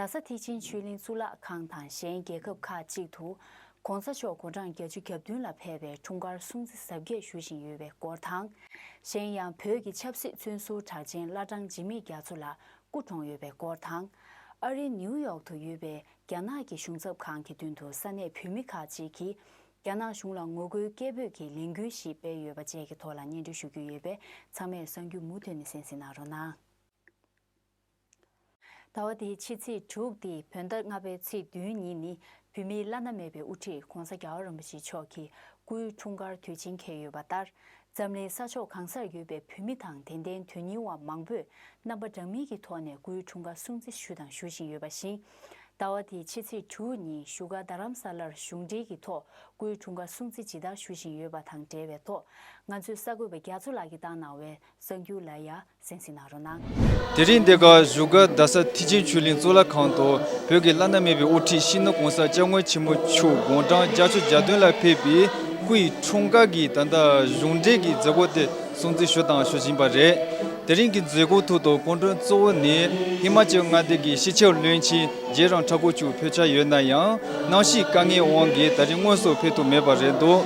རྡ་ས་ཐིག་ཆེན་ཆོས་གླིང་གཙུག་ལག་ཁང་དང་གཞན་རྒྱལ་ཁབ་ཁག་ཅིག་ཏུ ྋགོང་ས་མཆོག་དགུང་གྲངས་གྱ་བཅུ་གྱ་བདུན་ལ་ཕེབས་པའི་འཁྲུངས་སྐར་སྲུང་བརྩི་གཟབ་རྒྱས་ཞུ་བཞིན་ཡོད་པའི་སྐོར་དང། གཞན་ཡང་བོད་ཀྱི་ཆབ་སྲིད་བཙོན་ཟུར་གྲགས་ཅན་བླ་བྲང་འཇིགས་མེད་རྒྱ་མཚོ་ལགས་སྐུ་གྲོངས་ཡོད་པའི་སྐོར་དང། ཨ་རིའི་ནིའུ་ཡོག་ཏུ་ཡོད་པའི་རྒྱ་ནག་གི་གཞུང་ཚབ་ཁང་གི་མདུན་དུ་ས་གནས་བོད་མི་ཁག་ཅིག་གིས་རྒྱ་ནག་གཞུང་ལ་ངོ་རྒོལ་སྐད་འབོད་ཀྱི་ལས་འགུལ་ཞིག་སྤེལ་ཡོད་པ་བཅས་ཀྱི་ཐོག་ལ་སྙན་སྒྲོན་ཞུ་རྒྱུ་ཡོད་པས་ཚང་མས་གསང་རྒྱུ་མུ་མཐུད་ནས་གསན་གཟིགས་གནང་རོགས་གནང། ཟླ་བ་འདིའི་ཕྱི་ཚེས་དྲུག་སྟེ་བོད་ཟླ་ལྔ་པའི་ཚེས་བདུན་ཉིན་ནི་བོད་མིའི་བླ་ན་མེད་པའི་དབུ་ཁྲིད ྋགོང་ས ྋརྒྱལ་བ་རིན་པོ་ཆེ་མཆོག་གི་སྐུའི་འཁྲུངས་སྐར་དུས་ཆེན་འཁེལ་ཡོད་པ་ལྟར་འཛམ་གླིང་ས་ཕྱོགས་གང་སར་ཡོད་པའི་བོད་མི་དང་དད་ལྡན་དོན་སྙིང་བ་མང་པོས་རྣམ་པ་འདྲ་མིན་གྱི་ཐོག་ནས་སྐུའི་འཁྲུངས་སྐར་སྲུང་བརྩི་ཞུ་དང་ཞུ་བཞིན་ཡོད་པ་བཞིན། ཟླ་བ་འདིའི་ཕྱི་ཚེས་དྲུག་ཉིན་བཞུགས་སྒར་རྡ་རམ་ས་ལར་གཞུང་འབྲེལ་གྱི་ཐོག་སྐུའི་འཁྲུངས་སྐར་སྲུང་བརྩི་ཇི་ལྟར་ཞུ་བཞིན་ཡོད་པ་དང་འབྲེལ་བའི་ཐོག་ང་ཚོའི་གསར་འགོད་པ་རྒྱ་མཚོ་ལགས་ཀྱིས་བཏང་གནང་བའི་གསར་འགྱུར་ལ་ཡང་སེམས་ཞིག་གནང་རོགས་གནང། དེ་རིང་འདི་ག་བཞུགས་སྒར་རྡ་ས་ཐི་ཆེན་ཆོས་གླིང་གཙུག་ལག་ཁང་དུ་བོད་ཀྱི་བླ་ན་མེད་པའི་དབུ་ཁྲིད་ཤིང་སྣ་གོང་ས་སྐྱབས་མགོན་ཆེན་མོ་ཆུ་དགོན་འབྲང་རྒྱ་ཆོས་རྒྱ་སྟོན་ལ་ཕེབས་པའི་སྐུ་ཡི་འཁྲུངས་སྐར་གྱི་ད་ལྟ་གཞུང་འབྲེལ་གྱི་མཛད་སྒོ་དེ་སྲུང་བརྩི་ཞུ་དང་ཞུ་བཞིན་པ་རེད། དེ་རིང་གི་མཛད་སྒོའི་ཐུགས་དང་སྐུ་མགྲོན་གཙོ་བོ་ནི་ཧི་མ་ཅལ་མངའ་སྡེ་དགེ་བཤེས་ཆོས་བློན་ཆེན། རྗེས་རང་འཁྲ་པོ་བཅུག་ཕོད་ཆ་ཡོད་ན་ཡང་སྣང་ཞིག་དཀའ་ངལ་དབང་གིས་ད་རིང་དངོས་སུ་ཕེབས་ཐུབ་མེད་པ་རེད་འདུག་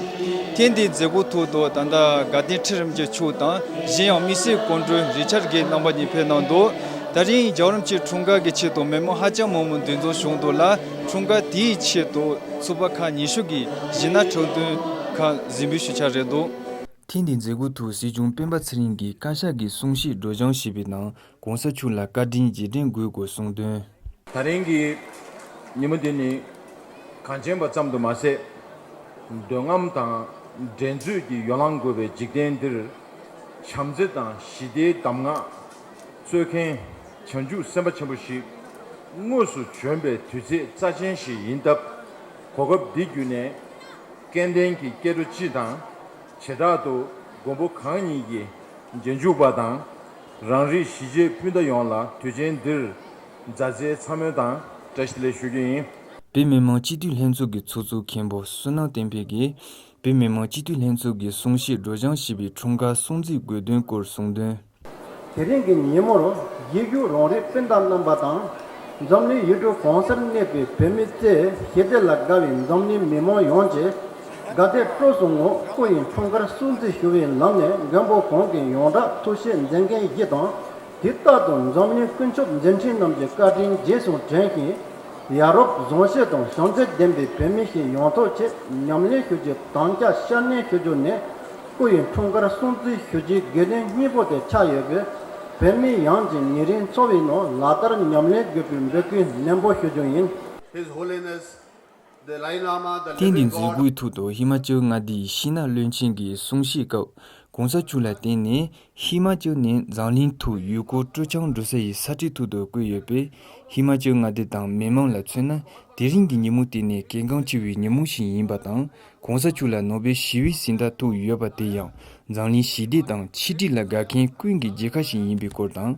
ཐེངས་འདིའི་མཛད་སྒོ་ཐུག་ཐོག་ད་ལྟ་དགའ་ལྡན་ཁྲི་རིམ་གྱི་ཕྱུག་དང་གཞན་ཡང་དམིགས་བསལ་སྐུ་མགྲོན་རིས་ཆར་གྱི་རྣམ་པ་གཉིས་ཕེབས་གནང་འདུག་ད་རིང་རྒྱ་རོམ་གྱི་འཁྲུངས་སྐར་གྱི་ཆེད་དུ་མི་མང་ཧ་ཅང་མང་མོ་འདུས་འཛོམས་བྱུང་འདུག་ལ་འཁྲུངས་སྐར་དེའི་ཆེད་དུ་ཚུགས་པ་ཁག་ཉིན་ཞུགས་ཀྱིས་གཞི་ན་ཁྲག་འདོན་ཁག་གཟིགས་འབུལ་ཞུ་འཆར་རེད་འདུག། ཐེངས་འདིའི་མཛད་སྒོ་ཐུག་སྲིད་སྐྱོང་སྤེན་པ་ཚེ་རིང་གིས་བཀའ་ཤག་གི་གསུང་བཤད་སྒྲོགས་སྦྱང་ཞུས་པའི་ནང་གོང་ས་མཆོག་ལ་བཀའ་དྲིན་རྗེས་དྲན་འགོད་དགོས་གསུངས་དོན། ད་རིང་གི་ཉིན་མོ་འདི་ནི་གངས་ཅན་པ་ཙམ་དུ་མ་ཟད། འདོད་རྔམ་དང་འགྲན་རྩོད་ཀྱི་ཡོ་ལང་རྒོད་པའི་འཇིག་རྟེན་འདིར། བྱམས་བརྩེ་དང་ཞི་བདེའི་གདམས་ངག་སྩོལ་མཁན་བྱང་ཆུབ་སེམས་དཔའ་ཆེན་པོ་ཞིག་དངོས་སུ་བྱོན་པའི་དུས་ཚེས་རྩ་ཆེན་ཞིག་ཡིན་སྟབས། གོ་སྐབས་འདི་བརྒྱུད་ནས་སྐལ་ལྡན་གྱི་སྐྱེ་འགྲོ་སྤྱི་དང། བྱེ་བྲག་ཏུ་མགོན་པོ་གང་ཉིད་ཀྱི་རྗེས་འཇུག་པ་དང། རང་རིགས་གཞིས་བྱེས་སྤུན་ཟླ་ཡོངས་ལ་དུས་ཆེན་འདིར་མཛའ་བརྩེའི་མཚམས་སྨོན་དང་བཀྲ་ཤིས་ལན་ཞུ་རྒྱུ་ཡིན། བོད་མི་མང་སྤྱི་འཐུས་ལྷན་ཚོགས་ཀྱི་ཚོགས་གཙོ་མཁན་པོ་བསོད་ནམས་བསྟན་འཕེལ་གྱིས་བོད་མི་མང་སྤྱི་འཐུས་ལྷན་ཚོགས་ཀྱི་གསུང་བཤད་སྒྲོག་སྦྱང་བྱས་པའི་འཁྲུངས་སྐར་སྲུང་བརྩིའི་དགོས་དོན་སྐོར་གསུང་དོན། དེ་རིང་གི་ཉིན་མོར་ཡིག་རྒྱུགས་རོང་རིགས་སྤུན་ཟླ་རྣམ་པ་དང། འཛམ་གླིང་ཡུལ་གྲུ་གང་སར་གནས་པའི་བོད་མི་བརྩེ་ཞེ་བདེ་ལ་དགའ་བའི་འཛམ་གླིང་མི་མང་ཡོངས་ཀྱི་དགའ་དད་སྤྲོ་བཟོ་ངོ་རྐོ་ཡི་འཁྲུངས་སྐར་སྲུང་བརྩི་ཞུ་བའི་ལམ་ནས་མགོན་པོ་གོང་གི་ཡོངས་གྲགས་ཐུགས་བཞེད་མཛད་མཁན་བཞི་དང་དེ་རྟག་ཏུ་འཛམ་གླིང་དཀོན་མཆོག་མཛད་འཕྲིན་རྣམས་ཀྱི་བཀའ་དྲིན་རྗེས་སུ་དྲན་བཞིན། ཡ་རོབ་རྫོང་གཞས་དང་ཤོང་རྩལ་ལྡན་པའི་བོད་མི་ཞིག་ཡོང་ཐོག་ཆེས་ཉམས་ལེན་ཞུ་རྒྱུ་དང་སྐྱ་ཤར་གནས་ཞུ་རྒྱུ་ནི་རྐོ་ཡི་འཁྲུངས་སྐར་སྲུང་བརྩི་ཞུ་རྒྱུའི་དགེ་འདུན་གཉིས་པོ་དེ་ཆགས་ཡོད་པས་བོད་མི་ཡངས་ཀྱི་ཉེ་རིང་འཚོ་བའི་ནང་ལག་བསྟར་ཉམས་ལེན་དགོས་པའི་འབོད་སྐུལ་ནན་པོ་ཞུ་རྒྱུ་ཡིན། His Holiness ཐེངས་འདིའི་མཛད་སྒོའི་ཐུགས་དོགས་ཧི་མ་ཅལ་མངའ་སྡེའི་ཤིས་ནཱ་བློན་ཆེན་གྱི་གསུང་བཤད་སྐབས་གོང་ས་མཆོག་ལ་བརྟེན་ནས་ཧི་མ་ཅལ་ནས་འཛམ་གླིང་དུ་ཡུལ་སྐོར་སྤྲོ་འཆམ་འགྲོ་ས་ཡི་ས་ཁྲི་ཐུགས་དོགས་བསྐོས་ཡོད་པས་ཧི་མ་ཅལ་མངའ་སྡེ་དང་མི་མང་ལ་མཚོན་ན་དེ་རིང་གི་ཉིན་མོ་དེ་ནི་གལ་འགངས་ཆེ་བའི་ཉིན་མོ་ཞིག་ཡིན་པ་དང་གོང་ས་མཆོག་ལ་ནོ་སྦེལ་ཞི་བའི་གཟེངས་རྟགས་ཐོབ་ཡོད་པ་དེ་ཡང་འཛམ་གླིང་ཞི་བདེ་དང་ཆིག་སྒྲིལ་ལ་དགའ་མཁན་ཀུན་གྱི་རྒྱལ་ཁ་ཞིག་ཡིན་པའི་སྐོར་དང་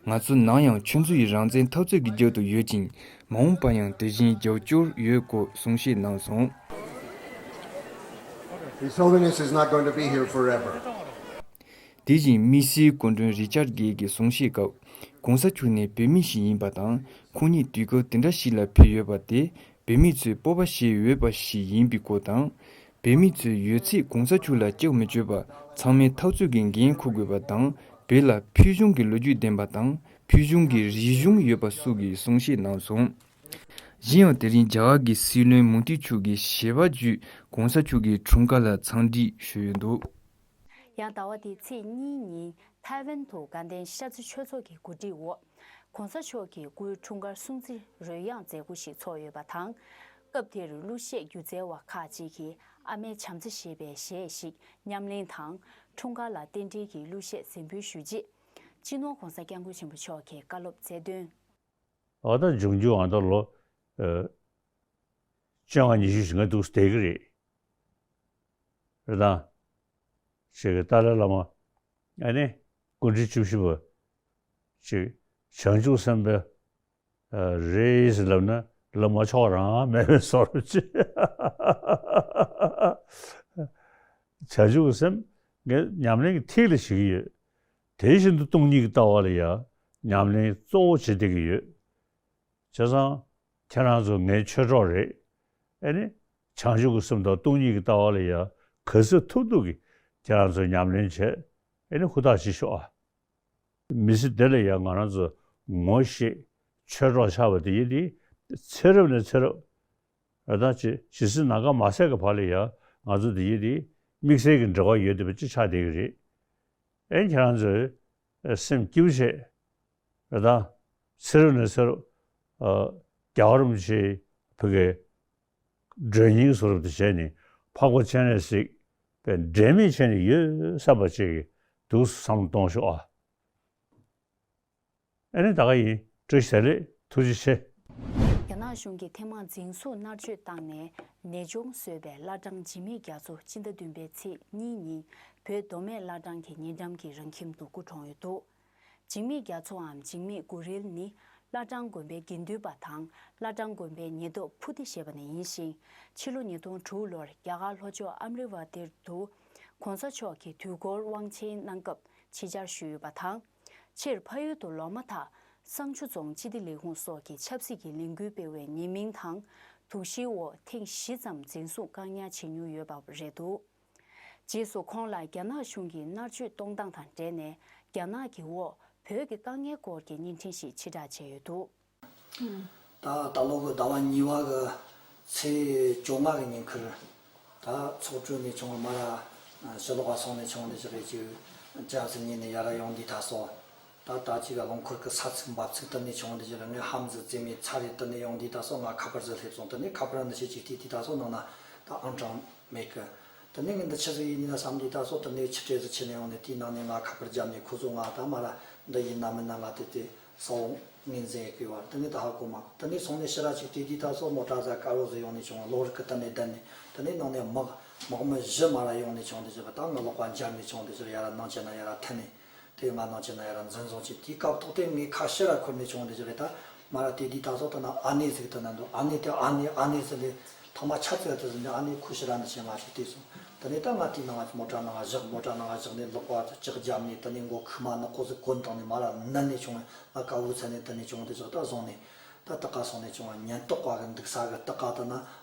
ང་ཚོ་ནང་ཡང་ཆོས་མཛོད་ཡི་རང་བཙན་འཐབ་རྩོད་ཀྱི་རྒྱབ་ཏུ་ཡོད་ཅིང་མ་འོངས་པར་ཡང་དེ་བཞིན་རྒྱབ་སྐྱོར་ཡོད་སྐོར་གསུང་བཤད་གནང་སོང། དེ་བཞིན་མི་སེར་སྐུ་མགྲོན་རི་ཅར་གྷེལ་གྱིས་གསུང་བཤད་སྐབས ྋགོང་ས་མཆོག་ནི་བོད་མི་ཞིག་ཡིན་པ་དང་ཁོང་ཉིད་དུས་སྐབས་དེ་འདྲ་ཞིག་ལ་ཕེབས་ཡོད་པ་དེ་བོད་མི་ཚོས་སྤོབས་པ་བྱེད་འོས་པ་ཞིག་ཡིན་པའི་སྐོར་དང། བོད་མི་ཚོས་ཡོད་ཚད་གོང་ས་ཆུ་ལ་སྐྱག་མི་སྤྱོད་པ་ཚང་མས་ཐག་གཅོད་ཀྱི་འགན་འཁུར་དགོས་པ་དང་བོད་ལ་ཕུལ་བྱུང་གི་ལོ་རྒྱུས་ལྡན་པ་དང་ཕུལ་བྱུང་གི་རིག་གཞུང་ཡོད་པ་སུ་གིས་གསུང་བཤད་གནང་སོང། གཞན་ཡང་དེ་རིང་རྒྱ་གར་གྱི་སྲིད་བློན་མུ་དྷི་མཆོག་གིས་ཞལ་པ་བརྒྱུད་གོང་ས་མཆོག་གི་འཁྲུངས་སྐར་ལ་འཚམས་འདྲི་ཞུས་ཡོད་འདུག། ཡང་ཟླ་བ་འདིའི་ཚེས་གཉིས་ཉིན་ཐའེ་ཝན་དུ་དགའ་ལྡན་ཤར་རྩེ་ཆོས་ཚོགས་ཀྱི་གོ་སྒྲིག་འོག། ྋགོང་ས་མཆོག་གིས་སྐུའི་འཁྲུངས་སྐར་སྲུང་བརྩི་རོལ་དབྱངས་མཛད་སྒོ་ཞིག་ཚོགས་ཡོད་པ་དང། སྐབས་དེར་གླུ་གཞས་སྒྱུ་རྩལ་བ་ཁག་ཅིག་གིས་ཨ་མའི་བྱམས་བརྩེ་ཞེས་པའི་གཞས་ཤིག་ཉམས་ལེན་དང། འཁྲུངས་སྐར་ལ་རྟེན་འབྲེལ་གྱི་གླུ་གཞས་གཟིགས་འབུལ་ཞུས་རྗེས། སྤྱི་ནོར ྋགོང་ས ྋསྐྱབས་མགོན་ཆེན་པོ་མཆོག་གིས་བཀའ་སློབ་སྩལ་དོན། ཨ་ལྟར་འབྱུང་རྒྱུ་ཨ་ལྟར་ལོ། སྤྱོད་ངག་ཉི་ཤུ་ཞིག་ང་འདུག་བསྡད་ཀྱི་རེད། རེད་དང། ཞེས་ཏཱ་ལའི་བླ་མ་ཨ་ནེ། ཀུན་དཀྲིས་བཅུ་བཞི་པ། ཅེས་བྱང་ཆུབ་སེམས་དཔའ་རེས་ལབ་ན་ལབ་མ་ཆོག་རང་མལ་བའི་སོར་བཅད། བྱང་ཆུབ་སེམས་དཔའ་ཉམས་ལེན་གྱི་ཐིག་ལེ་བྱེད་ཀྱི་ཡོད། དེ་བཞིན་དུ་སྟོང་ཉིད་ཀྱི་ལྟ་བ་ལ་ཡང་ཉམས་ལེན་གཙོ་བོ་བྱེད་བསྡད་ཀྱི་ཡོད། བྱས་ཙང་ཁྱེད་རང་ཚོ་ངའི་ཆོས་གྲོགས་རེད། ཨེ་ནི། བྱང་ཆུབ་ཀྱི་སེམས་དང་སྟོང་ཉིད་ཀྱི་ལྟ་བ་ལ་ཡང་ག་ཚོད་ཐུབ་ཐུབ་ཀྱིས་ཁྱེད་རང་ཚོས་ཉམས་ལེན་བྱེད་ཨེ་ནི་ཧུར་ཐག་བྱེད་ཤོག་ཨ། མི་ཚེ་འདི་ལ་ཡང་ང་རང་ཚོ་ངོ་ཤེས། ཆོས་གྲོགས་ཆགས་པ་དེ་ཡིན་དེ། ཚེ་རབས་ནས་ཚེ་རབས། ར་ཐང་ཆེ། ཇི་སྲིད་ནམ་མཁའ་མ་ཟད་ཀྱི་བར་ལ་ཡང་ང་ཚོ་དེ་ཡིན་དེ། དམིགས་བསལ་གྱི་འབྲེལ་བ་ཡོད་དེ་བས་ཅི་ཆགས་བསྡད་ཀྱི་རེད། ཨེ་ཁྱེད་རང་ཚོས། སེམས་སྐྱིད་པོ་བྱེད། ར་ཐང། ཚེ་རབས་ནས་ཚེ་རབས། ཨ། རྒྱ་གར་རུམ་ཆེའི་བུ་གས། སྒྲོན་སྙིང་སོགས་རབ་ཏུ་བྱས་ནས་འཕགས་པ་སྤྱན་རས་གཟིགས་པའི་འབྲལ་མེད་ཆེན་ནི་ཡོད་སར་བ་ཅིག་གིས་འདུག་བསམ་མི་གཏོང་ཤོག་ཨ། ཨེ་རེད་ད་ག་ཡིན་སྤྲོ་བྱས་ལེ་ཐུགས་རྗེ་ཆེ། རྒྱ་ནག་གཞུང་གིས་ཐེངས་མང་འཛིན་བཟུང་མནར་གཅོད་བཏང་ནས་ནད་གཅོང་བཟོས་པའི་བླ་བྲང་འཇིགས་མེད་རྒྱ་མཚོ་སྤྱི་ཟླ་བདུན་པའི་ཚེས་གཉིས་ཉིན་བོད་མདོ་སྨད་བླ་བྲང་གི་ཉེ་འགྲམ་གྱི་རང་ཁྱིམ་དུ་སྐུ་གྲོངས་ཡོད་འདུག། འཇིགས་མེད་རྒྱ་མཚོའམ་འཇིགས་མེད་དགུ་རིལ་ནི་བླ་བྲང་དགོན་པའི་དགེ་འདུན་པ་དང་བླ་བྲང་དགོན་པའི་ཉེ་རྟོག་བྷུ་ཏི་ཞེས་པ་ནས་ཡིན་ཞིང་ཕྱི་ལོ་ཉིས་སྟོང་དྲུག་ལོར་རྒྱ་གར་ལྷོ་ཕྱོགས་ཨམ་རི་བྷ་ཏིར་དུ ྋགོང་ས་མཆོག་གི་དུས་འཁོར་དབང་ཆེན་གནང་སྐབས་ཕྱི་བཅར་ཞུས་ཡོད་པ་དང། ཕྱིར་ཕ་ཡུལ་དུ་ལོག་མ་ཐག་བསང་ཆུ་རྫོང་སྤྱི་བདེ་ལས་ཁུངས་སོགས་ཀྱི་ཆབ་སྲིད་ཀྱི་ལས་འགུལ་སྤེལ་བའི་ཉེས་མིང་དང་དུག་གཞིའི་འོག་ཐེངས་བཞི་ཙམ་འཛིན་བཟུང་བཀག་ཉར་བྱེད་མྱུང་ཡོད་པ་རེད་འདུག། རྗེས་སུ་ཁོང་ལ་རྒྱ་ནག་གཞུང་གིས་མནར་གཅོད་གཏོང་སྟངས་དང་འབྲེལ་ནས་རྒྱ་ནག་གི་འོག་བོད་ཀྱི་དཀའ་ངལ་སྐོར་གྱི་བརྙན་འཕྲིན་ཞིག་ཕྱི་བསྒྲགས་བྱས་ཡོད་འདུག། ད་ལྟ་ལོ་འགོའི་ཟླ་བ་གཉིས་བ་གི་ཚེས་བཅོ་ལྔ་གི་ཉིན་ཁུལ་དེ་ཚོགས་གྲོལ་ནས་བྱུང་བའི་མ་ར་སི་ལོ་བ་སོགས་ནས་བྱུང་བ་འདི་ཚོ་རེད་ཅེས་བརྗོད། ལྕགས་བཟི་གཉིས་ནས་ཡར་ར་ཡོང་འདི་དག་སོགས། ད་ལྟ་ཅི་ག་རླངས་འཁོར་གྱི་ས་ཚིགས་འབབ་ཚིགས་དུ་ནས་བྱུང་བ་འདི་ཅི་རང་ངའི་ཧམ་ཟི་རྩེད་མོའི་ཚ་རེད་དུ་ནས་ཡོང་དུས་ད་སོགས་ང་ཁ་པར་ཟིག་སླེབས་སོང་དུ་ནས་ཁ་པར་འདི་ཆེ་གཅིག་དེས་དུས་ད་སོགས་ནང་ན་ད་ཨང་གྲངས་མེད་གི། དུ་ནས་ངས་འདི་ཆི་ཟིག་ཡིན་ནུས་ན་བསམ་དུས་ད་སོགས་དུ་ནས་ཆི་སྤྲེལ་ཟིག་ཆི་ནས་ཡོང་ནས་དེའི་ནང་ནས་ང་ཁ་པར་རྒྱབ་ནས་ཁོ་ཚོས་ང་ད་མ་ལ་འདི་ཡིན་ན་མིན་ན་ང་དེ་དུས་ས་འོག་ངོས་འཛིན་ཡི་གི་བར་དུ་ནས་ད་ཧ་གོ་མ་གོ་དུ་ནས་སོང་ནས་ཕྱི་ར་ཆིག་དུས་དུས་ད་སོགས་ནོར་དྲ་ཟ་དཀར་བོ་ཟིག་ཡོང་ནས་བྱུང་བ་གློག་རིག་གི་དུ་ནས་བསྡད་ནས་དུ་ནས་ནང་ནས་དམག་དམག་མི་བཞི་མ་ར་ཡོང་ནས་བྱུང་འདི་ཅི་བ་ད་ང་ལོག་པ་འབྱར་ནས་བྱུང་འདི་ཅི་ར་ཡ་ར་ནང་བྱས་ན་ཡ་ར་མཐུན་ནས་དེ་ང་ནོ་ཅི་ན་ཡ་ར་འཛིན་བཟུང་བྱས་དེའི་སྐབས་ཐོག་དེ་ངའི་ཁ་ཤེ་ར་འཁོར་ནས་བྱུང་བ་འདི་རེད་ད་མ་ར་དེ་དེའི་ད་སོག་ཐོག་ན་ཨ་ནེ་ཟིག་ཐོན་ན་འདུག་ཨ་ནེ་དེ་ཨ་ནེ་ཨ་ནེ་ཟེར་ནས་ཐོག་མ་ཕྱག་འཚལ་དུ་ཟིན་ནས་ཨ་ནེ་ཁུ་ཤི་ར་འདི་བྱས་མ་བྱས་དེ་སོང་ད་ནས་ད་ང་དེའི་ནང་ང་མོ་ཏྲ་ནང་ང་བཞག་མོ་ཏྲ་ནང་ང་བཞག་ནས་ལོག་པ་ལྕག་བརྒྱབ་ནས་ད་ནས་མགོ་ཁུག་མ་ནག་ཀོ་ཟིག་ཀོ་འདང་ནས་མ་ར་ནི་ནས་བྱུང་བ་ང་དཀའ་བོའི་ཚད་ནས་ད་ནས་བྱུང་བ་འདི་བཞག་ད་བཟུང་ནས་ད་ད་ག་སོང་ནས་བྱུང་བ་ཉེན་རྟོག་པ་གི་འདུག་ས་གི་སྟག་ག་ད་ན་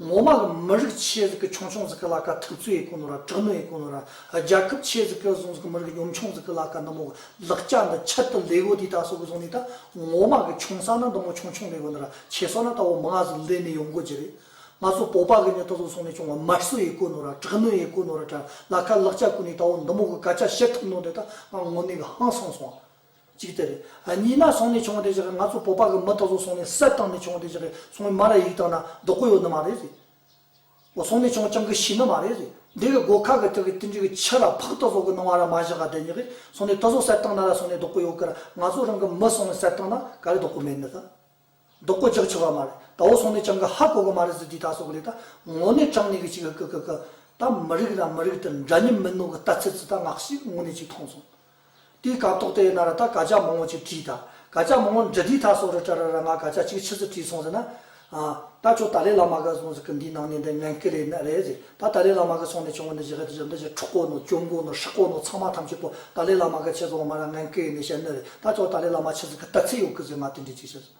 ངོ་མ་ལ་མི་རིགས་ཆེད་རིགས་ཀྱི་ཆུང་ཆུང་ཟིག་གི་ལ་ཀ་ཐུག་ཚོད་ཡི་གོ་ནོ་ར་དྲག་མོ་ཡི་གོ་ནོ་ར་རྒྱལ་ཁབ་ཆེད་རིགས་ཀྱི་ཟུང་ཟིག་མི་རིགས་གཉོམ་ཆུང་ཟིག་གི་ལ་ཀ་འདི་མོ་ལག་སྐྱ་འདི་ཁྱད་དུ་ལེ་གོ་དེ་ད་སོ་གི་ཟུང་ནི་ད་ངོ་མ་གི་ཆུང་ས་ན་འདི་མོ་ཆུང་ཆུང་མི་གོ་ནོ་ར་ཆེ་སོ་ན་ད་བོ་མི་ང་ཟིག་ལེ་ནི་ཡོང་གོ་གྱི་རེད་ང་ཚོ་བོ་པ་གི་ནི་ད་སོ་ཟུང་ནི་ཆུང་བ་མར་སོ་ཡི་གོ་ནོ་ར་དྲག་མོ་ཡི་གོ་ནོ་ར་དྲ་ལ་ཀ་ལག་སྐྱ་གོ་ནི་ད་བོ་འདི་མོ་གི་ག་ཅག་བཤད་ཐུབ་ནོ་འདི་ད་ང་ངོ་ནི་གི་ཧང་སང་སོང། གཅིག་དེ་རེད། གཉིས་ན་སོང་ནས་བྱུང་བ་དེ་བཞག་གི་ང་ཚོ་བོད་པ་གི་མི་དག་ཚོ་སོང་ནས་སད་བཏང་ནས་བྱུང་བ་དེ་བཞག་གི་སོང་བའི་མ་ལ་ཡིག་བཏང་ན་ལྡོག་གི་ཡོད་ནི་མ་རེད་རེད། འོ་སོང་ནས་བྱུང་བ་ཅང་གི་ཤི་ནི་མ་རེད་རེད། འདི་གི་སྒོ་ཁ་གི་ཐིག་གི་ཏིན་ཅིག་གི་ཕྱི་ལ་ཕག་ལྟ་ཚོགས་གི་སྣང་བ་ར་མ་བཞག་ག་དེ་ཉིག་གི་སོང་ནས་ལྟ་ཚོགས་སད་བཏང་ན་ར་སོང་ནས་ལྡོག་གི་ཡོད་གི་ར་ང་ཚོ་རང་གི་མི་སོང་ནས་སད་བཏང་ན་ག་རེ་ལྡོག་གི་མེད་ནི་ད། རྡོག་པོ་རྒྱག་ཆོག་ག་མ་རེད་ད་འོ་སོང་ནས་ཀྱང་ག་ཧ་གོ་གི་མ་རེད་ཟེར་དུས་ད་སོ་གི་རེད་ད་ངོ་ནས་ཀྱང་ནས་གི་ཅིག་གི་གི་གི་གི་ད་མི་རིགས་དང་མི་རིགས་དེར་འདྲ་མཉམ་མིན་ནོ་གི་ལྟ་ཚུལ་ཙི་ད་ངག་ཤིག་དངོས་གནས་ཅིག་མཐོང་སོང། དེའི་ག་ཏོག་དེ་ཡོད་ན་ར་ད་ག་ཅག་མང་བོ་ཅིག་བྲིས་ད་ག་ཅག་མང་བོ་འདྲི་དུས་ད་སོ་རི་ཏྲ་ར་ར་ང་ག་ཅག་ཅིག་ཕྱི་ཟིར་བྲིས་སོང་ཟེར་ན། ཨ། ད་ཁྱོད་ད་ལས་ལ་མ་ག་སོང་ཟེར་གི་འདིའི་ནང་ནས་འདི་ངན་སྐད་རེད་ན་རེད་ཟེར། ད་ད་ལའི་བླ་མ་ག་ཚོང་ནས་བྱུང་བ་ནི་ཇི་ག་དེ་ཇི་འདྲ་ཇི་འཕྲོག་གོ་ནོ་གྱོན་གོ་ནོ་ཧྲག་གོ་ནོ་ཚང་མ་ཐམས་ཅད་པོ་ད་ལའི་བླ་མ་ག་ཆེ་ཚོང་མ་ར་ངན་སྐད་ཡིན་ནས་བཤད་ནི་རེད་ད་ཅོག་ད་ལའི་བླ་མ་ཆེ་ཚིག་གི་རྟགས་ཚིག་ཡོག་གི་ཟེར་མ་དེ་འདྲས་ཅིག་བཤད་སོང་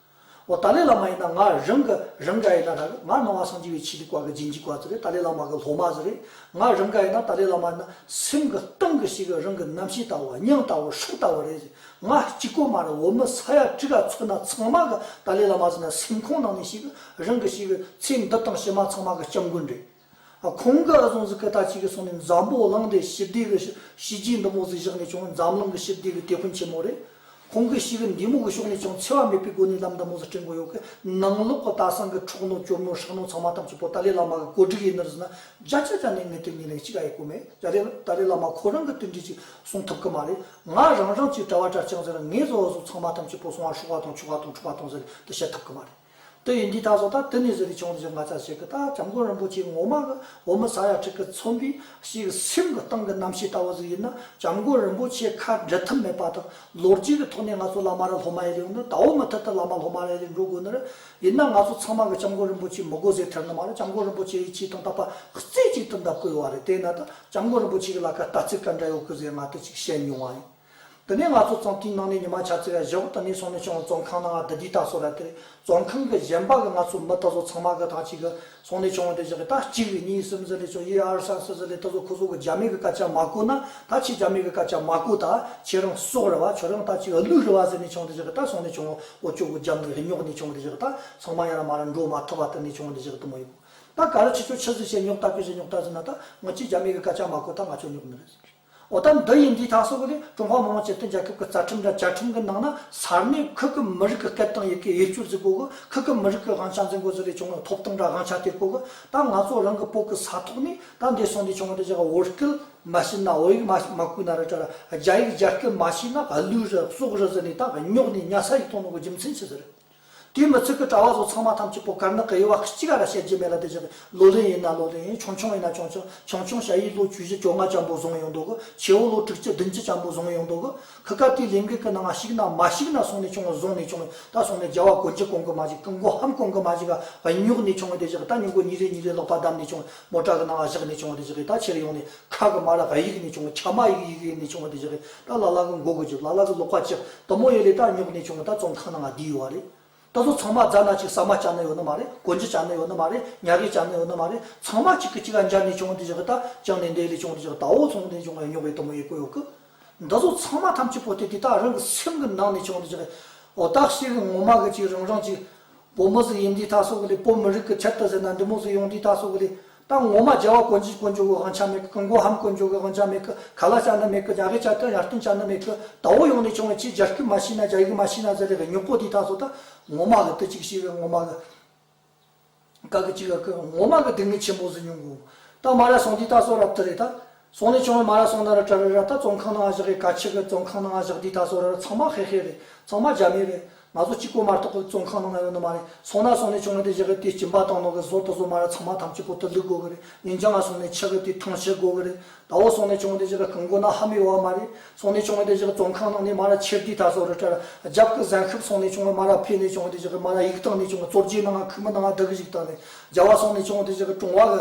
འོ་ད་ལའི་བླ་མ་ཡིན་ན་ང་རང་གི་རང་ག་ཡིན་ན་རག་ང་སྣང་བ་སངས་རྒྱས་བའི་ཆེད་དུ་བཀའ་གི་སྦྱིན་གྱི་བཀའ་ཚུལ་རེད་ད་ལའི་བླ་མ་གི་སློབ་མ་ཟེར་རེད་ང་རང་ག་ཡིན་ན་ད་ལའི་བླ་མ་ཡིན་ན་སེམས་གི་སྟེང་གི་ཞིག་རང་གི་རྣམ་ཤེས་ལྟ་བུ་སྙིང་ལྟ་བུ་ཧྲུག་ལྟ་བུ་རེད་ཟེར་ང་གཅིག་པོ་མ་རེད་འོ་མི་ས་ཡ་ཁྲི་ཁ་ཚོད་ན་ཚང་མ་གི་ཏཱ་ལའི་བླ་མ་ཟེར་ན་སེམས་ཁོང་ནང་ནས་ཞིག་རང་གི་ཞིག་ཚེ་འདི་དང་ཕྱི་མ་ཚང་མ་གི་སྐྱབས་མགོན་རེད། ཁོང་གི་ཨ་ཟོང་ཟིག་སྐད་ཐ་ཆིག་གིས་སོང་ནས་འཛམ་བུ་གླིང་འདི་ཞི་བདེ་གི་ཞི་རྒྱས་འདི་མོ་ཟིག་བཞག་ནས་ཀྱང་འཛམ་གླིང་གི་ཞི་བདེ་གི་དེད་དཔོན་ཆེན་མོ་རེད། ཁོང་གི་ཞིག་འདི་མོ་གི་ཕྱོགས་ནས་ཀྱང་འཚེ་བ་མེད་པའི་སྒོ་ནས་ལམ་འདི་མོ་ཟིག་སྤྲད་མགོ་ཡོད་གི་ནང་ལོག་གི་ལྟ་སང་གི་འཕྲོག་ནོ་སྐྱོབ་ནོ་ཧྲག་ནོ་ཚང་མ་ཐམས་ཅད་པོ་ཏཱ་ལའི་བླ་མ་གི་གོ་སྒྲིག་ཡིན་ནི་ཟེར་ན་རྒྱ་ཆ་རྒྱ་ནས་ངེད་དེ་གཉིས་ལས་གཅིག་ག་ཡི་གོ་མེད་རྒྱ་ལས་ཏཱ་ལའི་བླ་མ་ཁོ་རང་གི་དོན་གྱིས་ཅིག་གསུང་ཐུབ་གི་མ་རེད། ང་རང་རང་ཚོའི་གྲྭ་བ་གྲྭ་བྱང་ཟེར་བ་ངའི་བཟོ་བ་བཟོ་ཚང་མ་ཐམས་ཅད་པོ་སོང་བ་ཧྲུག་བ་དང་ཆུ་བ་དང་འཁྲུག་བ་དང་ཟེར་དུ་བཤད་ཐུབ་གི་མ་རེད། དེ་ཡིན་དུས་ད་གཟོད་ད་དུས་ནས་བཟོས་པའི་ཆུང་དུས་ཀྱི་ང་ཚ་ཞིག་གིས་ད་སྐྱབས་མགོན་རིན་པོ་ཆེའི་ངོ་མ་གི་འོ་མི་ཟ་ཡ་ཁྲིག་གི་ཚོམ་བུའི་ཞིག་གི་སེམས་གི་སྟེང་གི་རྣམ་ཤེས་ལྟ་བུ་ཟིག་ཡིན་ན་སྐྱབས་མགོན་རིན་པོ་ཆེའི་ཁ་འབྲལ་ཐབས་མེད་པ་དང་ལོ་རྒྱུས་གི་ཐོག་ནས་ང་ཚོ་བླ་མ་རེད་སློབ་མ་ཡེ་ལེའུ་ནི་དྭོགས་མི་མཐུད་དུ་བླ་མ་སློབ་མ་ཡེ་ལེ་འགྲོ་དགོས་ནི་རེད། ཡིན་ན་ང་ཚོ་ཚང་མ་གི་སྐྱབས་མགོན་རིན་པོ་ཆེའི་མི་དགོས་ཟེར་ཐལ་ནི་མ་རེད་སྐྱབས་མགོན་རིན་པོ་ཆེ་ཡིད་ཆེས་དང་དད་པ་རྩེ་གཅིག་ཏུ་འདབ་བཀོད་བ་རེད་དེས་ན་ད་སྐྱབས་མགོན་རིན་པོ་ཆེ་གི་ལ་ཁ་ལྟ་ཚིག་ག་འདྲ་ཡོད་ཁུ་ཟེར་ང་ཏི་ཅིག་བཤད་མྱོང་བ་ཡིན། འདི་ནས་ང་ཚོ་ཙང་ཏིའི་ནང་ནས་ཉི་མ་ཆ་ཚེ་བའི་ཞེ་བོ་ཏི་ནས་སོང་ནས་ཆུང་བ་ཙོང་ཁང་ནང་ང་འདི་དུས་ལྟ་སོ་ར་དེ་རེད་ཙོང་ཁང་གི་གཞན་པ་གི་ང་ཚོ་མི་ཏི་ཚོ་ཚང་མ་གི་ཐང་ཅིག་གི་སོང་ནས་ཆུང་བ་དེ་བཞག་གི་ད་གཅིག་རེད་གཉིས་གསུམ་ཟེར་ནས་ཆོ་ཡེ་ཨར་སན་སི་ཟི་ལེ་ཏི་ཚོ་ཁོ་ཚོ་གི་རྒྱ་མི་གི་སྐད་ཆ་མ་གོ་ན་ད་ཁྱེད་རྒྱ་མི་གི་སྐད་ཆ་མ་གོ་ད་ཁྱེད་རང་སོག་རེད་བ་ཁྱོད་རང་ད་ཅིག་གླུ་རེད་བ་ཟེར་ནས་ཆུང་བ་དེ་བཞག་གི་ད་སོང་ནས་ཆུང་བ་ཨོ་ཅོག་གི་རྒྱ་མི་རི་ཉོག་ནས་ཆུང་བ་དེ་བཞག་གི་ད་ཚང་མ་ཡང་ན་མ་ར་འགྲོ་མ་ཐུབ་བ་ཏི་ནས་ཆུང་བ་དེ་བཞག་གི་ཏི་མོ་ཡི་གོ། ད་ག་རེ་ཆུ་ཆུ་ཆུ་ཟེར་བཤད་ཉོག་ད་ཕེ་ཟེར་ཉོག་ད་ཟེར་ན་ད་ང་ཅི་རྒྱ་མེད་གི་སྐད་ཆ་མ་གོ་ད་ང་ཆོ་ཉོག་མི་རེད་ཟེར་གི། འོ་ད་འདི་ཡིན་འདི་དང་སོགས་གི་ལས་ཀྲུང་ཧྭ་མི་དམངས་སྤྱི་མཐུན་རྒྱལ་ཁབ་གི་རྩ་ཁྲིམས་དང་བཅའ་ཁྲིམས་གི་ནང་ན་སར་ནས་ཁུལ་གི་མི་རིགས་གི་སྐད་དང་ཡི་གེ་ཡིད་སྐྱོ་ཟིག་གོ་གི་ཁུལ་གི་མི་རིགས་གི་དབང་ཆ་འཛིན་དགོས་ཟིག་ལས་བྱུང་བའི་ཐོབ་ཐང་དང་དབང་ཆ་དེ་གོ་གི་ད་ང་ཚོ་རང་གི་བོད་གི་ས་ཐོག་ནས་ད་འདི་སོང་འདི་བྱུང་བ་འདི་བྱས་གི་འོ་སྐད་མ་བཤད་ན་འོ་ཡིག་མ་བརྐུས་ན་ར་བཀྲ་ར་རྒྱ་ཡིག་རྒྱ་སྐད་མ་བཤད་ན་ག་ལུས་ར་སྲོག་ར་ཟེར་ནས་ད་ག་ཉོག་ནས་ཉྭ་ས་ཡིག་ཐོག་ནང་གི་རྒྱུ་མཚན་ཆི་ཟེར། དེའི་མི་ཚེ་གི་གྲྭ་བ་སོགས་ཚང་མ་ཐམས་ཅད་པོ་གར་ནག་གི་དབྱེ་བ་གཅིག་ག་ར་བཤད་རྒྱུ་མེད་ལ་དེ་བྱས་པས་ལོ་ལོན་ཡིན་ན་ལོ་ལོན་ཡིན་ཆུང་ཆུང་ཡིན་ན་ཆུང་ཆུང་ཆུང་ཆུང་བྱ་ཡིས་ལོ་བཅུ་བཞི་བཅོ་ལྔ་ལྕམ་པོ་བཟུང་ཡོང་འདུག་གི་ཆེ་བོ་ལོ་དྲུག་ཅུ་བདུན་ཅུ་ལྕམ་པོ་བཟུང་ཡོང་འདུག་གི་ཁི་སྐབས་དེའི་ལས་འགུལ་གི་ནང་ང་ཞིག་ན་མ་ཞིག་ན་སོང་ནས་བྱུང་བ་བཟུང་ནས་བྱུང་བས་ད་སོང་ནས་རྒྱལ་བ་གོ་འཇིག་གོང་གི་མ་ཞིག་གི་མགོ་ཧམ་གོང་གི་མ་ཞིག་ག་བ་ཉོག་ནས་བྱུང་བས་དེ་བཞག་གི་ད་ཉོག་གོ་ཉིན་རེ་ཉིན་རེ་ལོག་པ་བདམས་ནས་བྱུང་བས་མོ་བྲག་གི་ནང་བ་བཞག་ནས་བྱུང་བ་དེ་བཞག་གི་ད་ཕྱིར་ཡོང་ནས་ཁྲག་གི་མར་ལ་ག་ཡིག་ནས་བྱུང་བ་ཁྱ་མ་ཡིག་ཡིག་ཡིག་ནས་བྱུང་བ་དེ་བཞག་གི་ད་ལ་ལ་གི་མགོ་གི་བརྗོད་ལ་ལ་གི་ལོག་པ་ཅི་དུ་མོ་ཡོད་ལས་ད་ཉོག་ནས་བྱུང་བ་ད་ཙོང་ཁ་ན་ང་བསྡད་ཡོད་རེད་ད་གཟོད་ཚང་མ་རྫ་ན་ཅིག་ཟ་མ་བྱ་ནི་ཡོད་ནི་མ་རེད་གོ་འཇི་བྱ་ནི་ཡོད་ནི་མ་རེད་ཉག་གི་བྱ་ནི་ཡོད་ནི་མ་རེད་ཚང་མ་གཅིག་གི་གཅིག་ག་འབྱར་ནས་བྱུང་བ་དེ་བཞག་གི་ད་ཅང་ནས་འདས་ལས་བྱུང་བ་དེ་བཞག་གི་ད་འོ་ཚོང་ནས་བྱུང་བ་ཡང་ཉོག་བའི་དུ་མོ་ཡིན་དགོས་ཡོད་གི་ད་གཟོད་ཚང་མ་ཐམས་ཅད་པོ་ཏི་དེ་ད་རང་གི་སེམས་གི་ནང་ནས་བྱུང་བ་དེ་བཞག་གི་འོ་ད་ཤེས་གི་ངོ་མ་གི་གཅིག་རང་རང་གཅིག་བོད་མི་ཟིག་ཡིན་དུས་ད་སོ་གི་ལས་བོད་མི་རིགས་གི་ཆེད་དུ་ཟེར་ན་འདི་མོ་ཟིག་ཡོང་དུས་ད་སོ་གི་ལས་དང་ངོ་མ་རྒྱལ་བ་དཀོན་ཅིག་དཀོན་མཆོག་གི་དབང་ཆ་མེད་གི་མགོ་ཧམ་དཀོན་མཆོག་གི་དབང་ཆ་མེད་གི་ག་ལ་བྱ་ན་མེད་གི་རྒྱ་གི་བྱ་ཏི་ཡར་ཏུན་བྱ་ན་མེད་གི་ད་འོ་ཡོང་ནས་བྱུང་བའི་ཆེས་རྒྱ་སྐུད་མ་ཤི་ན་རྒྱ་ཡིག་མ་ཤི་ན་ཟེར་རེ་གི་སྨྱུག་པོ་དེ་དག་སོགས་དང་ངོ་མ་གི་དུ་ཅིག་ཤི་བའི་ངོ་མ་གི་ག་གི་ཅིག་གི་ངོ་མ་གི་སྡུག་བསྔལ་ཆེན་པོ་ཟིན་མྱོང་གི་འོ་ད་མ་ར་སོང་དེ་དག་སོགས་རབ་ཏི་རེད་ད་སོང་ནས་བྱུང་བའི་མ་ར་སོང་ན་ར་ཏྲ་རི་ར་ཏཱ་ཙོང་ཁང་ནང་བཞག་གི་ཀ་ཆི་གི་ཙོང་ཁང་ནང་བཞག་འདི་ད་གཟོད་ར་ར་ཚང་མ་ཧེ་ཧེ་རེད་ཚང་མ་རྒྱ་མི་རེད་ང་ཚོ་གཅིག་པོ་མ་གཏོགས་གི་ཙོང་ཁང་ནང་ན་ཡོད་ནི་མ་རེད་སོང་ན་སོང་ནས་བྱུང་བ་དེ་བཞག་གི་དེ་སྐྱིན་པ་དང་ནོར་གི་ཟོར་དུ་ཟོ་མ་ར་ཚང་མ་ཐམས་ཅད་གོ་ཐོས་ལུས་དགོས་གི་རེད་ལིན་ཅང་ང་སོང་ནས་ཆག་གི་དེ་ཐང་ཆད་དགོས་གི་རེད་ད་འོ་སོང་ནས་བྱུང་བ་དེ་བཞག་གི་སྐུ་མགོ་ན་ཧ་མི་ཡོ་བ་མ་རེད་སོང་ནས་བྱུང་བ་དེ་བཞག་གི་ཙོང་ཁང་ནང་ནས་མ་ར་ཁྱེར་འདི་ད་གཟོད་ར་ཏྲ་ར་རྒྱབ་གི་གཟན་ཤུབས་སོང་ནས་བྱུང་བའི་མ་ར་ཕེ་ནས་བྱུང་བ་དེ་བཞག་གི་མ་ར་ཡིག་ཐང་ནས་བྱུང་བའི་གཙོར་རྒྱས་ནང་ང་ཁུག་མི་ནང་ང་བསྡད་གི་ཞིག་ད་རེད་རྒྱ་བ་སོང་ནས་བྱུང་བ་དེ་བཞག་གི་ཀྲུང་བ་གི་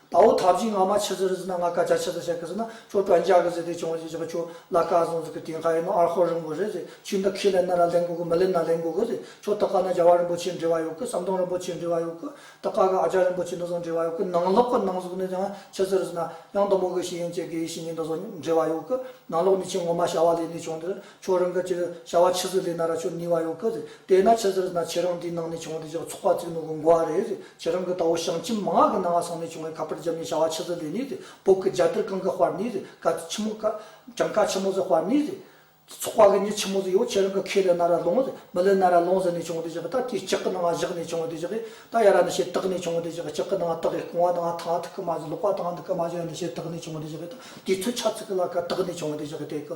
ད་འོ་ཐབས་ཇི་སྔ་མ་ཆི་ཟི་རི་ཟི་ན་ང་ཀ་ཅག་ཆི་ད་ཤ་ཀི་ཟི་ན་ཁྱོ་ཀྲ་འཇག་གི་ཟི་དེ་ཆུང་བ་ཇི་ཆི་ཀ་ཁྱོ་ལ་ཀ་ཟུང་ཟི་ཀི་དེ་ཧ་ཡི་ནོ་ཨར་ཧོ་རིན་པོ་རེ་ཟི་ཆུ་འདི་ཁི་ལེ་ན་ར་ལེན་གུ་གུ་མི་ལེ་ན་ལེན་གུ་གུ་ཟི་ཁྱོ་ད་ཀ་ན་རྒྱ་བ་རིན་པོ་ཆེ་འདྲི་བ་ཡོ་ཀི་ཟམ་གདོང་རིན་པོ་ཆེ་འདྲི་བ་ཡོ་ཀི་ད་ཀ་གི་ཨ་ཅག་རིན་པོ་ཆེ་འདི་ཟུང་འདྲི་བ་ཡོ་ཀི་ནང་ལོག་གི་ནང་ཟུག་ནི་ཡང་ཆི་ཟི་རི་ཟི་ན་ཡང་དུམ་བུ་གི་ཤི་ཡིན་ཅེ་གི་ཡི་ཤི་ཡིན་འདི་ཟུང་འདྲི་བ་ཡོ་ཀི་ནང་ལོག་ནི་ཆེ་ངོ་མ་བྱ་བ་ལས་ནི་ཆུང་འདི་ཁྱོད་རང་གི་ཅིག་བྱ་བ་ཕྱི་ཟིག་ལས་ན་ར་ཆོ་ནི་བ་ཡོང་གི་རེད་དེ་ན་ཕྱི་ཟིག་ན་ཁྱེད་རང་དེའི་ནང་ནས་བྱུང་བ་དེ་ཅིག་ཚོགས་པ་བཙུགས་ནོ་གོ་མགོ་བ་རེད་ཁྱེད་རང་གི་ད་བོ་ཞང་ཁྱིམ་མང་གི་ནང་ང་སང་ནས་བྱུང་བའི་ཁ་པར་རྒྱབ་ནས་བྱ་བ་ཕྱི་ཟིག་ལས་ནི་རེད་བོད་ཀྱི་རྒྱ་དར་གང་གི་དཔར་ནི་རེད་ཀ་ཆི་མོ་ཀ་གྲངས་ཀ་ཆི་མོ་ཟིག་དཔར་ནི་རེད་ཚོགས་པ་གི་ཉི་ཆི་མོ་ཟིག་ཡོད་ཁྱེད་རང་གི་ཁས་ལེ་ན་ར་ལོང་རེད་མི་ལེ་ན་ར་ལོང་ཟིག་ནས་བྱུང་བ་དེ་ཅིག་ད་དེའི་ལྕགས་ཀི་ནང་ང་བཞག་ནས་བྱུང་བ་དེ་ཅིག་གིས་ད་ཡ་ར་ནི་ཞེ་དག་ནས་བྱུང་བ་དེ་ཅིག་གི་ལྕགས་ཀི་ནང་ང་དག་གིས་བསྐུང་བ་དང་ང་ཐང་ཐུག་གི་མ་ཟིག་ལོག་པ་དང་ང་འདི་གི་མ་ཟིག་ཡ་ནི་ཞེ་དག་ནས་བྱུང་བ་དེ་ཅིག་གིས་ད་དེའི་ཚོད་ཆ་ཚིག་གི་ལ་ཀ་དག་ནས་བྱུང་བ་དེ་ཅིག་གི་དེ་གི་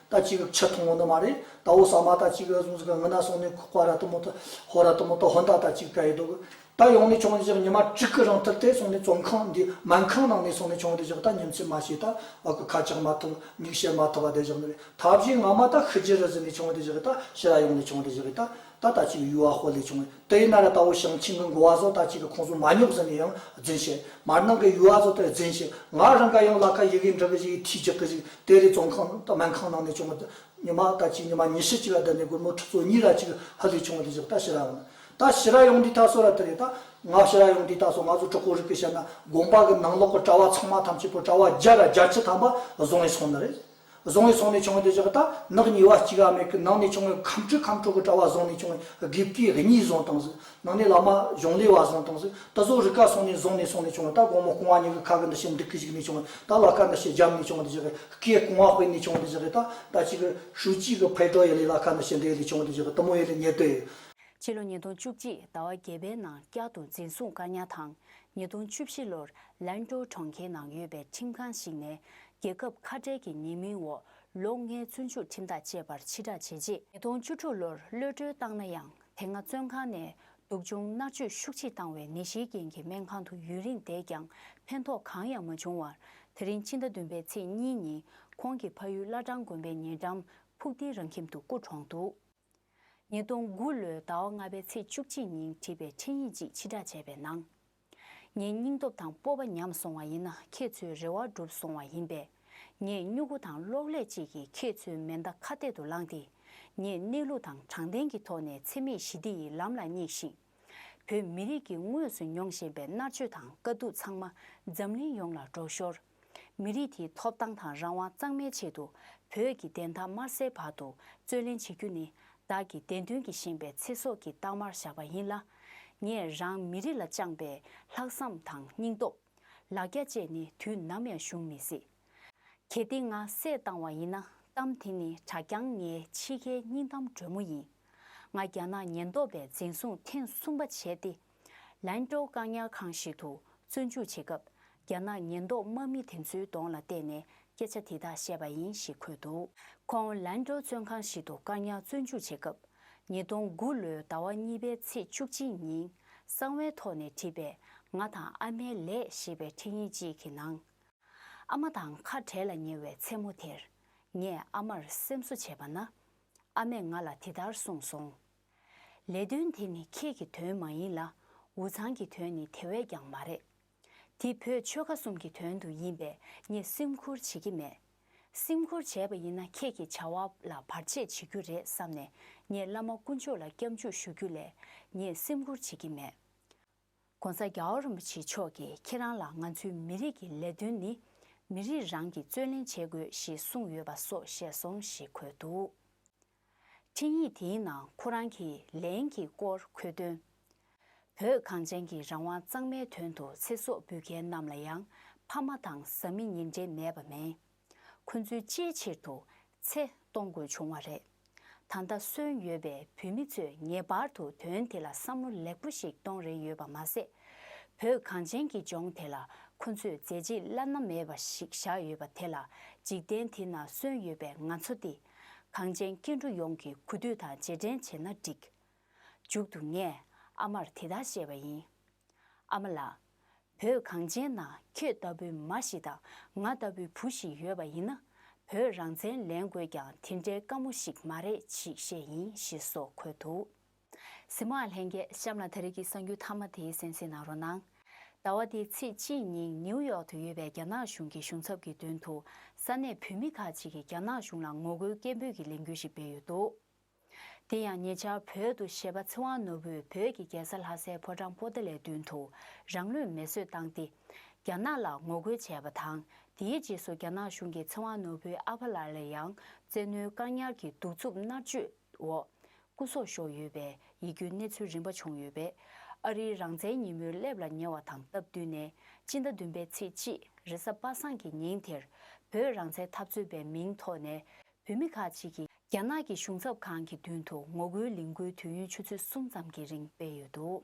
ད་ཅི་གི་ཆ་མཐོང་བོ་ནི་མ་རེད་ད་འོ་ས་མ་ད་ཅི་གི་གཟུང་ཟི་གི་ངི་ན་སོང་ནི་ཁོ་ཁོ་ར་ཏི་མོ་ཏི་ཧོ་ར་ཏི་མོ་ཏི་ཧོན་ད་ད་ཅི་གི་ཀ་ཡི་དོག་གི་ད་ཡོང་ནི་ཆོང་ཟི་ཟི་ཉི་མ་དྲུག་གི་རང་ཐུར་དེ་སོང་ནི་བཙོང་ཁང་འདི་སྨན་ཁང་ནང་ནི་སོང་ནི་ཆོང་རི་ཟི་གི་ད་ཉིན་ཚིག་མ་བྱས་ད་བ་གི་ཁ་ཆག་མ་ཐུབ་མིག་བྱེད་མ་ཐུབ་བ་དེ་བཞག་ནི་རེད་ད་བཞིན་ང་མ་ད་ཤི་རྗེ་རི་ཟི་ནི་ཆོང་རི་ཟི་གི་ད་ཤི་ར་ཡོང་ནི་ཆོང་རི་ཟི་གི་ད་ད་ལྟ་ཅིག་ཡུལ་བ་ཧོ་ལས་བྱུང་བའི་ཏཱའི་རི་ན་ར་དྭོ་ཞང་ཆིང་གི་མགོ་བ་ཟོ་ལྟ་ཅིག་གི་ཁོང་ཟུང་མ་ཉོག་ཟིན་ནས་ཡང་རྫིན་བྱས། མར་ནང་གི་ཡུལ་བ་ཟོ་དེར་རྫིན་བྱས། ང་རང་ག་ཡང་ལ་ཁ་ཡི་གེ་འབྲི་གི་ཞིག་ཐིག་རྒྱག་གི་ཞིག་ཏཱའི་རི་བཙོན་ཁང་སྨན་ཁང་ནང་ནས་བྱུང་བ་ཉི་མ་ལྟ་ཅིག་ཉི་མ་ཉི་ཤུ་གཅིག་ལ་བསྡད་ནས་སྒོར་མོ་ཁྲི་ཚོ་གཉིས་ར་ཅིག་ཧི་ལས་བྱུང་བ་དེ་བཞག་ད་ཤི་ར་ཡོང་ད་ཤི་ར་ཡོང་དུས་ད་སོ་ར་དེ་རེད་ད། ང་ཤི་ར་ཡོང་དུས་ད་སོ་ང་ཚོ་གྲོགས་པོ་རིག་པའི་ཤར་ན་དགོན་པ་གི་ནང་ལོག་གི་གྲྭ་བ་ཚང་མ་ཐམས་ཅད་པོ་གྲྭ་བ་བརྒྱ་ར་བརྒྱ་ཁྲི་ཐམ་པ་བཟུང་ནས་སོང་ནི་རེད། བཟུང་བའི་སོང་ནས་བྱུང་བའི་འདོད་ཆགས་ཀྱི་རྟགས་ནག་ཉེ་བ་གཅིག་ཨ་མའི་སྐུ་ནང་ནས་བྱུང་བའི་ཁམས་དྲུག་ཁམས་དྲུག་གི་དྲ་བ་བཟུང་ནས་བྱུང་བའི་དགེ་བསྐོས་གཉིས་བཟུང་དང་གཟུགས་ནང་ནས་བླ་མ་གཞུང་ལས་བ་བཟུང་དང་གཟུགས་ད་གཟུགས་རི་ཁ་སོང་ནས་བཟུང་ནས་སོང་ནས་བྱུང་བ་རྟགས་གོང་མ་སྐུང་བ་གཉིས་ཀྱི་ཁ་གི་འདུ་ཤེས་འདི་སྐད་ཅིག་ནས་བྱུང་བ་རྟགས་ལ་ཁ་འདུ་ཤེས་རྒྱབ་ནས་བྱུང་བ་འདི་ཅག་གི་སྐད་སྐུང་བ་དཔེ་ནས་བྱུང་བ་འདི་ཅག་གི་རྟགས་ད་ཅིག་གི་ཧྲུའུ་ཅི་གི་ཕའི་གྲོགས་ཡེ་ལེ་ལ་ཁ་འདུ་ཤེས་འདི་ཡེ་ལེ་བྱུང་བ་འདི་ཅག་གི་གཏུམ་མོ་ཡེ་ལེ་ཉེར་བསྡོད་ཡོད། ཕྱི་ལོ་ཉིས་སྟོང་བཅུ་གཅིག་ཟླ་བ་བརྒྱད་པའི་ནང་བསྐྱར་དུ་འཛིན་བཟུང་བཀག་ཉར་དང་ཉིས་སྟོང་བཅུ་བཞི་ལོར་ལན་ཀྲོའུ་གྲོང་ཁྱེར་ནང་ཡོད་པའི་ཁྲིམས་ཁང་ཞིག་ནས་རྒྱལ་ཁབ་ཁ་བྲལ་གྱི་ཉེས་མིང་འོག་ལོ་ལྔའི་བཙོན་འཇུག་ཁྲིམས་ཐག་བཅད་པར་ཕྱི་བསྒྲགས་བྱས་རྗེས། ཉིས་སྟོང་བཅུ་དྲུག་ལོར་གློད་བཀྲོལ་བཏང་ན་ཡང་དེ་སྔ་བཙོན་ཁང་ནས་སྡུག་སྦྱོང་མནར་གཅོད་ཤུགས་ཆེ་བཏང་བའི་ནད་གཞིའི་རྐྱེན་གྱིས་སྨན་ཁང་དུ་ཡུན་རིང་བསྡད་ཀྱང་ཕན་ཐོགས་གང་ཡང་མ་བྱུང་བར་དེ་རིང་ཕྱི་ཟླ་བདུན་པའི་ཚེས་གཉིས་ཉིན་ཁོང་གི་ཕ་ཡུལ་བླ་བྲང་དགོན་པའི་ཉེ་འགྲམ་ཕུགས་ལྡིང་རང་ཁྱིམ་དུ་སྐུ་གྲོངས་འདུག། ཉིས་སྟོང་དགུ་ལོའི་ཟླ་བ་ལྔ་པའི་ཚེས་བཅུ་གཅིག་ཉིན་བྲིས་པའི་འཕྲིན་ཡིག་ཅིག་ཕྱི་བསྒྲགས་བྱས་པའི་ནང། ངའི་སྙིང་སྟོབས་དང་སྤོབས་པ་ཉམས་སོང་བ་ཡིན་ན་ཁྱེད་ཚོའི་རེ་བ་འགྲུབ་སོང་བ་ཡིན་པས། ངས་སྨྱུ་གུ་དང་གློག་ཀླད་ཅིག་གིས་ཁྱེད་ཚོའི་མེ་མདའ་ཁ་གཏད་དུ་བསླངས་ཏེ། ངས་གནས་ལུགས་དང་དྲང་བདེན་གྱི་ཐོག་ནས་འཚེ་མེད་ཞི་བདེ་ཡི་ལམ་ལ་སྙེགས་ཤིང། བོད་མི་རིགས་ཀྱིས་དངོས་སུ་མྱོང་བཞིན་པའི་མནར་གཅོད་དང་དཀའ་སྡུག་ཚང་མ་འཛམ་གླིང་ཡོངས་ལ་སྒྲོག་ཞོར། མི་རིགས་དེའི་ཐོབ་ཐང་དང་རང་དབང་གཙང་མའི་ཆེད་དུ་བོད་ཀྱི་བདེན་མཐའ་མར་སེལ་བར་དུ་རྩོད་ལེན་བྱེད་རྒྱུ་ནི་བདག་གི་བདེན་དོན་གྱིས་བཞེངས་པའི་ཚེ་སྲོག་གི་རྟགས་མར་བཞག་པ་ཡིན་ལ། ངས་རང་མི་རིགས་ལ་བཅངས་པའི་ལྷག་བསམ་དང་སྙིང་སྟོབས། ལ་རྒྱ་བཅས་ནི་དུས་ནམ་ཡང་གཞུང་མི་སྲིད། གལ་ཏེ་ང་བསད་བཏང་བ་ཡིན་ན་གཏམ་དེ་ནི་གྲགས་རྐྱང་ངའི་འཆི་ཁའི་སྙིང་གཏམ་དྲོན་མོ་ཡིན། ང་རྒྱ་ནག་ཉེན་རྟོག་པས་འཛིན་བཟུང་ཐེངས་གསུམ་པ་བྱས་ཏེ། ལན་ཀྲོའུ་བཀག་ཉར་ཁང་ཞིག་ཏུ་བཙོན་འཇུག་བྱེད་སྐབས་རྒྱ་ནག་ཉེན་རྟོག་དམག་མི་དེ་ཚོའི་གདོང་ལ་བལྟས་ནས་སྐད་ཆ་དེ་དག་བཤད་པ་ཡིན་ཞེས་འཁོད་འདུག། ཁོང་ལན་ཀྲོའུ་བཙོན་ཁང་ཞིག་ཏུ་བཀག་ཉར་བཙོན་འཇུག་བྱེད་སྐབས་ཉིས་སྟོང་དགུ་ལོའི་ཟླ་བ་གཉིས་པའི་ཚེས་བཅུ་གཅིག་ཉིན་གསང་བའི་ཐོག་ནས་བྲིས་པའི་ང་དང་ཨ་མའི་ལས་ཞེས་པའི་འཕྲིན་ཡིག་ཅིག་གི་ནང། ཨ་མ་དང་ཁ་བྲལ་ལ་ཉེ་བའི་མཚན་མོ་དེར། ངས་ཨ་མར་སེམས་གསོ་བྱས་པ་ན། ཨ་མས་ང་ལ་དེ་ལྟར་གསུངས་སོང། ལས་དོན་དེ་ནི་ཁྱེད་ཀྱི་དོན་མ་ཡིན་ལ། འུ་ཚང་གི་དོན་ནི་དེ་བས་ཀྱང་མ་རེད། དེ་བོད་ཆོལ་ཁ་གསུམ་གྱི་དོན་དུ་ཡིན་པས་ངས་སེམས་ཁུར་བྱེད་ཀྱི་མེད། སེམས་ཁུར་བྱས་པ་ཡིན་ན་ཁྱེད་ཀྱི་བྱ་བ་ལ་བར་ཆད་བྱེད་རྒྱུ་རེད་བསམ་ནས་ངས་བླ་མ་དཀོན་མཆོག་ལ་སྐྱབས་འཇུག་ཞུ་རྒྱུ་ལས་ངས་སེམས་ཁུར་བྱེད་ཀྱི་མེད། ྋགོང་ས་རྒྱ་བོད་རིན་པོ་ཆེ་མཆོག་གིས་ཁྱེད་རང་ལ་ང་ཚོའི་མི་རིགས་ཀྱི་ལས་དོན་ནི་མི་རིགས་རང་གིས་རྩོད་ལེན་བྱེད་དགོས་ཞེས་གསུངས་ཡོད་པ་སོགས་བཤད་སོང་ཞེས་འཁོད་འདུག་འཕྲིན་ཡིག་དེའི་ནང་ཁོ་རང་གིས་ལན་གྱི་སྐོར་འཁོད་དོན། བོད་གངས་ཅན་གྱི་རང་དབང་གཙང་མའི་དོན་དུ་ཚེ་སྲོག་འབུལ་མཁན་རྣམས་ལ་ཡང་ཕ་མ་དང་བཟའ་མི་གཉིས་འབྲེལ་མེད་པ་མེད། ཁོ་ཚོའི་ཅིའི་ཕྱིར་དུ་ཚེ་གཏོང་དགོས་བྱུང་བ་རེད། ད་ལྟ་གསོན་ཡོད་པའི་བོད་མི་ཚོས་ངེས་པར་དུ་དོན་དེ་ལ་བསམ་བློ་ལེགས་པོ་ཞིག་གཏོང་རན་ཡོད་པ་མ་ཟད། བོད་གངས་ཅན་གྱི་ལྗོངས་དེ་ལ་ཁོ་ཚོས་མཛད་རྗེས་བླ་ན་མེད་པ་ཞིག་བཞག་ཡོད་པ་དེ་ལ་འཇིག་རྟེན་དེ་ན་གསོན་ཡོད་པའི་ང་ཚོ་སྟེ། གངས་ཅན་སྐྱེ་འགྲོ་ཡོངས་ཀྱི་གུས་འདུད་དང་རྗེས་དྲན་བྱས་ན་འགྲིག། མཇུག་ཏུ་ངས་ཨ་མར་དེ་ལྟར་བཤད་པ་ཡིན། ཨ་མ་ལགས། བོད་གངས་ཅན་ན་ཁྱེད་ལྟ་བུའི་མ་ཞིག་དང་ང་ལྟ་བུའི་བུ་ཞིག་ཡོད་པ་ཡིན་ན་བོད་རང་བཙན་ལེན་དགོས་ཀྱང་དེ་འདྲའི་དཀའ་མོ་ཞིག་མ་རེད་ཅེས་བཤད་ཡིན་ཞེས་སོགས་འཁོད་འདུག། གཟིགས་མོའང་ལྷན་རྒྱས་གཤམ་ལ་ད་རེས་ཀྱི་གསང་རྒྱུད་མཐའ་མ་དེའི་གསན་གཟིགས་གནང་རོགས་གནང། ཟླ་བ་འདིའི་ཚེས་གཅིག་ཉིན་ནིའུ་ཡོག་ཏུ་ཡོད་པའི་རྒྱ་ནག་གཞུང་གི་གཞུང་ཚབ་ཀྱི་མདུན་དུ་ས་གནས་བོད་མི་ཁག་ཅིག་གིས་རྒྱ་ནག་གཞུང་ལ་ངོ་རྒོལ་སྐད་འབོད་ཀྱི་ལས་འགུལ་ཞིག་སྤེལ་ཡོད་འདུག་དེ་ཡང་ཉེ་ཆར་བོད་དུ་གཞས་པ་ཚེ་དབང་ནོར་བུས་བོད་ཀྱི་རྒྱལ་ས་ལྷ་སའི་ཕོ་བྲང་པོ་ཏཱ་ལའི་མདུན་དུ་རང་ལུས་མེ་གསོད་བཏང་སྟེ། རྒྱ་ནག་ལ་ངོ་རྒོལ་བྱས་པ་དང་དེའི་རྗེས་སུ་རྒྱ་ནག་གཞུང་གིས་ཚེ་དབང་ནོར་བུའི་ཨ་ཕ་ལ་ལ་ཡང་བཙན་གནོན་བཀག་ཉར་གྱིས་གདུག་རྩུབ་མནར་གཅོད་འོག། སྐུ་སྲོག་ཤོར་ཡོད་པའི་ཡིད་སྐྱོའི་གནས་ཚུལ་རིམ་པ་བྱུང་ཡོད་པས། ཨ་རིའི་རང་བཙན་ཉིན་མོའི་སླེབས་ལ་ཉེ་བ་དང་སྟབས་བསྟུན་ནས་སྤྱི་ཟླ་བདུན་པའི་ཚེས་གཅིག་རེས་གཟའ་པ་སངས་ཀྱི་ཉིན་དེར། བོད་རང་བཙན་འཐབ་རྩོད་པའི་མིང་ཐོག་ནས་བོད་མི་ཁག་ཅིག་གིས། རྒྱ་ནག་གི་གཞུང་ཚབ་ཁང་གི་མདུན་དུ་ངོ་རྒོལ་ལས་འགུལ་དུས་ཡུན་ཆུ་ཚོད་གསུམ་ཙམ་གྱི་རིང་སྤེལ་ཡོད་འདུག།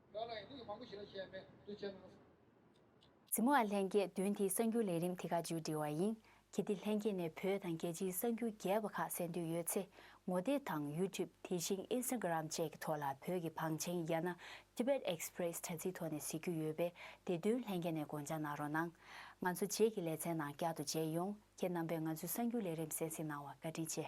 བདག་ལ་ཡང་མིག་མང་པོ་ཞིག་ལ་ཤའི་སྨན་བསྡུ་བྱས་གནང་སོང། རྫི་མོ་ཨ་ལྷན་རྒྱས་བདུན་དེའི་གསར་འགྱུར་ལས་རིམ་དེ་ག་མཇུག་འགྲིལ་བ་ཡིན་གྱི་དེ་ལྷན་རྒྱས་ནས་བོད་དང་རྒྱལ་སྤྱིའི་གསར་འགྱུར་རྒྱས་པ་ཁག་གསན་འདོད་ཡོད་ཚེ་ངོ་བལྟས་དང YouTube དེ་བཞིན Instagram བཅས་ཀྱི་ཐོག་ལ་བོད་ཀྱི་བང་ཆེན་ཡ་ན Tibet Express དྲ་ཚིགས་ཐོག་ནས་གཟིགས་རྒྱུ་ཡོད་པས་དེ་དོན་ལྷན་རྒྱས་ནས་དགོངས་འཇགས་གནང་རོགས་གནང། ང་ཚོ་རྗེས་ཀྱི་ལེ་ཚན་ནང་བསྐྱར་དུ་མཇལ་ཡོང་ཁྱེད་རྣམ་པས་ང་ཚོའི་གསར་འགྱུར་ལས་རིམ་གསན་གཟིགས་གནང་བར་བཀའ་དྲིན་ཆེ།